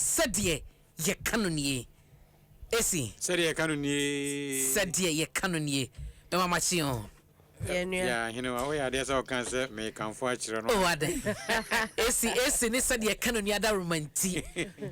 Sɛdeɛ yɛka no nie. Esi. Sɛdeɛ yɛka no nie. Sɛdeɛ yɛka no nie. Me mama kye o. Yɛn nua. Yɛ ahenewa woyɛ adeɛ sɛ ɔka sɛ mekamfo akyerɛ no. Oh adɛn. Esi esi ne sɛdeɛ yɛka no nie adaworoma nti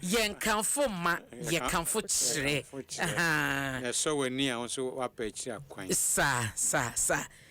yɛnkamfo mma yɛkamfo kyerɛ. Ahaa. Yɛsɔ w'ani a wo nso woapa akyiri akwan. Saa saa saa.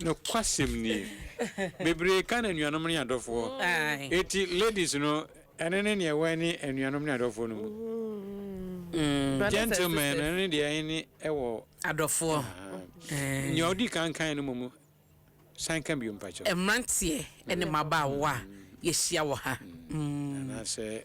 Nokwasɛm nie. Bebree ka no anuanom ne adɔfoɔ. Eti ladies no ɛno ne nea ɛwɔ ɛne anuanom ne adɔfoɔ no mu. Gentlemen no ɛno ne deɛ ɛne ɛwɔ. Adɔfoɔ. Nea ɔdi kan kaeɛ no mmom san ka bio mpakyɛw. Mmeranteɛ ne mmabaawa a yɛahyia wɔ ha. Anaasɛ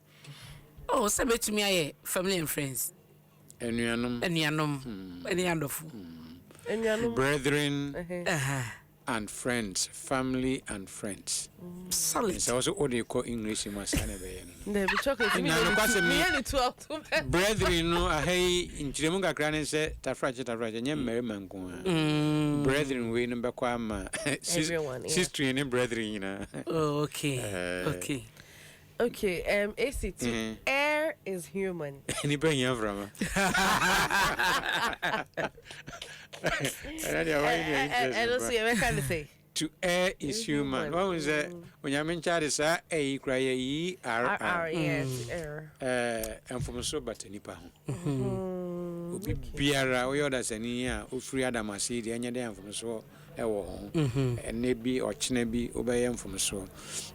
Oh, sɛ mɛtumi ayɛ family and friends. Anuanom. Anuanom. Ɛne hmm. adɔfo. Anuanom. Brethren. And friends, family and friends. Solid. Nsa wɔsɛ o de kɔ English mu asa na ɛbɛyɛ no. Dɛbi chocolate mi yɛ ni mi yɛ ni tu ɔtun bɛ. Brethren no aha yi nkyerɛmu kakra ne sɛ tafrakye tafrakye nye mmarima nko ara. Hmm. Brethren wei no bɛkɔ ama sistri ne brethren nyinaa. Oh, okay. Uh, okay. Ok um esi to err is human. Nipa hia mframa. Ɛna deɛ wɔyɛ deɛ interest pa. Ɛno so yɛ bɛka ne sɛ. To err is human. Wɔn mu sɛ onyame nkyade saa ɛyi kura yɛ ERR. Ɛɛ mfomso bata nipa ho. Obi biara, woyɛ ɔdasani a wofiri Adam ase yi deɛ, ɛnyɛ dɛ a mfomsoɔ wɔ ho. Ɛnnɛ bi, ɔkyena bi, wobɛyɛ mfomsoɔ.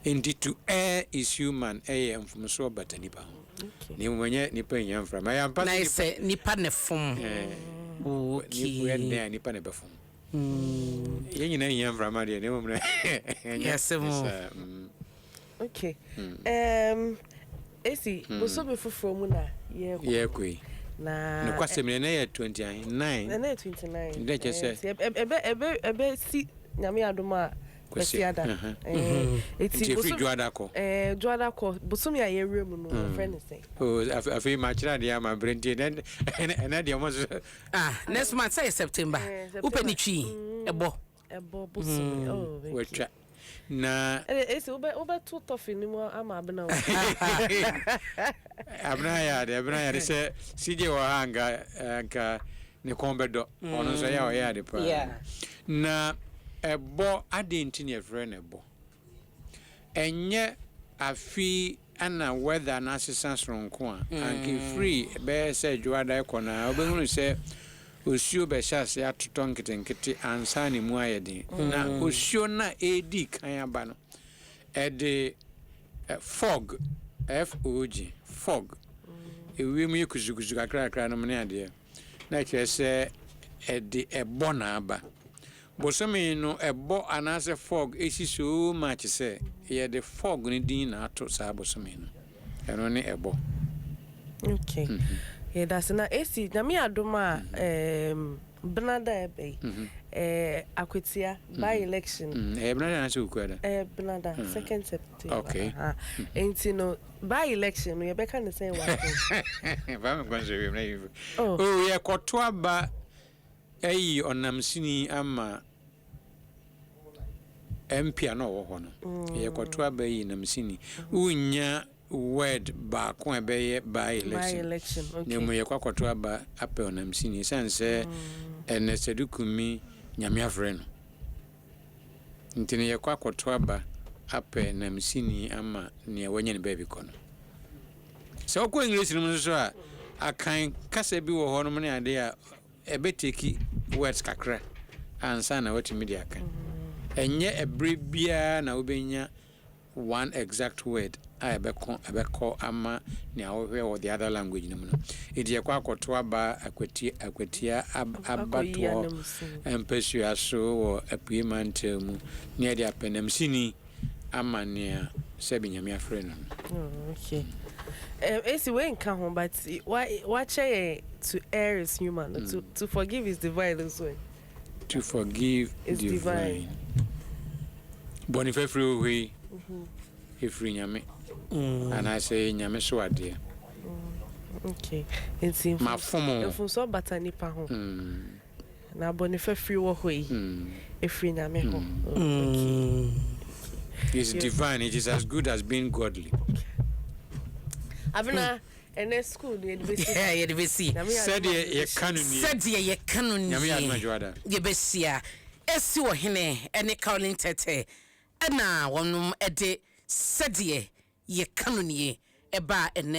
Enti to err is human yɛ mfomsoɔ bata nipa ho. Na mmom ɛnyɛ nipa nnya mfra mu. Ɛyɛ ampa sɛ nipa. Na ɛsɛ nipa na ɛfom. Ɛɛ. Woyɛ dɛn a nipa na ɛbɛfom. Yɛn nyinaa hia mframa deɛ, na mmom no ɛnyɛ saa. Ok eem esi bosome foforɔ mu na yɛɛkɔ. Yɛɛkɔ yi. Na. Nokwasɛm ni ɛnɛ yɛ twenty ahe nine. Ɛnɛ yɛ twenty nine. Ɛdɛ kyɛ sɛ. Ɛɛ ɛbɛ ɛbɛ ɛbɛ ɛbɛ si nyame adom a. Kwasiada. Ɛɛ eti. Nti efiri dwoada kɔ. Ɛɛ dwoada kɔ bosome a yɛwura mu no yɛfrɛ no sɛn. Oo afe afei makyerɛ adeɛ ama brɛ nti ɛnɛ ɛnɛ ɛnɛ deɛ ɔmo nso. Ah next month sɛ yɛ September. Ɛɛ September. Wopɛ ne twi ɛbɔ. Ɛbɔ bosome oh okay. Watwa na. Ɛnna esi wobɛ wobɛto tɔfe ne mu ama abena o. abena yɛ ade abena yɛ ade sɛ sigye wɔ ha nka nka ne kɔn bɛdɔ ɔno nso yɛ ɔyɛ ade paa na ɛbɔ ade nti ne ɛfrɛ na ɛbɔ. Ɛnyɛ afe yi na weather no asesa soronko a, anka ɛfiri bɛyɛ sɛ dwoada rekɔ no ara wobɛhunu sɛ osuo bɛhyɛ aseɛ atotɔ nketenkete ansa na ɛmu ayɛ den. Na osuo no a ɛredi kan aba no, ɛde fog, F-O-G, fog, ewiem yɛ kusukusu kakrakra nom ne adeɛ. na ɛkyerɛ sɛ ɛde ɛbɔ na aba. Bosome no ɛbɔ anaasɛ fog si so much sɛ yɛde fog no din na ato saa bosome no. Ɛno ne ɛbɔ. Ok. Yɛdase. Na esi Nyame adom a ɛɛm bena da a ɛba yi, ɛɛ Akwatia by election. Ɛyɛ bena da anaasɛ Wukuada? Ɛyɛ bena da, second September. Ok. Ahaa. Enti no By election no yɛbɛka ne sɛn wɔ asɛm. Fa me nkɔnhyɛ wiem na yɛmfi. Oh. Oh yɛkɔto aba ayi ɔnam sini ama MP a na ɔwɔ hɔ no. Yɛkɔto aba ayi nam sini. Wonnya word baako a ɛbɛyɛ by election. By election, okay. Na mmom yɛkɔ akɔto aba apɛ ɔnam sini. Ɛsiane sɛ ɛnnɛ Sadu Kumi Nyame afrɛ no. Nti no yɛkɔ akɔto aba apɛ nam sini ama nea wanya ne baabi kɔ no. Sɛ wokɔ English no mu nso so a, Akan kasa bi wɔ hɔ nom ne ade a ɛbɛ take words kakra ansa na woatumi de aka. Ɛnyɛ ɛbere biara na wobɛnya. one exact word a ɛbɛko ɛbɛkɔ ama nea wohwɛ wɔ the other language no mu no. Enti yɛkɔ akɔto aba akwati akwatia ab, abatoɔ mpasua so wɔ Apuei Mantam mu na yɛde apɛnamsini ama nea sɛbi Nyame afrɛ no no. Oh, okay. Um, esi wei nka ho, but wa wakyɛ yɛn to err is human, to to forgive is divine nso. To forgive is divine. Bɔne fafiri wɔ hɔ yi, ɛfiri Nyame anaasɛ ɛyɛ Nyame so adeɛ. Okay. Nti Mafom o. mfomsoɔ bata nipa ho. Na bɔne fafiri wɔ hɔ yi, ɛfiri Nyame hɔ. Okay. Is divine, it is as good as being godly. Abena, Ɛnnɛ sukuu no, yɛde besi ha. Yɛde besi. Sɛdeɛ yɛka no nie. Sɛdeɛ yɛka no nie. Nyame yɛ adom a, Dwoada. Yɛbɛhyia asi Ɔhene ne Caroline Tete na wɔn de Sɛdeɛ yɛka no nie ba ɛnnɛ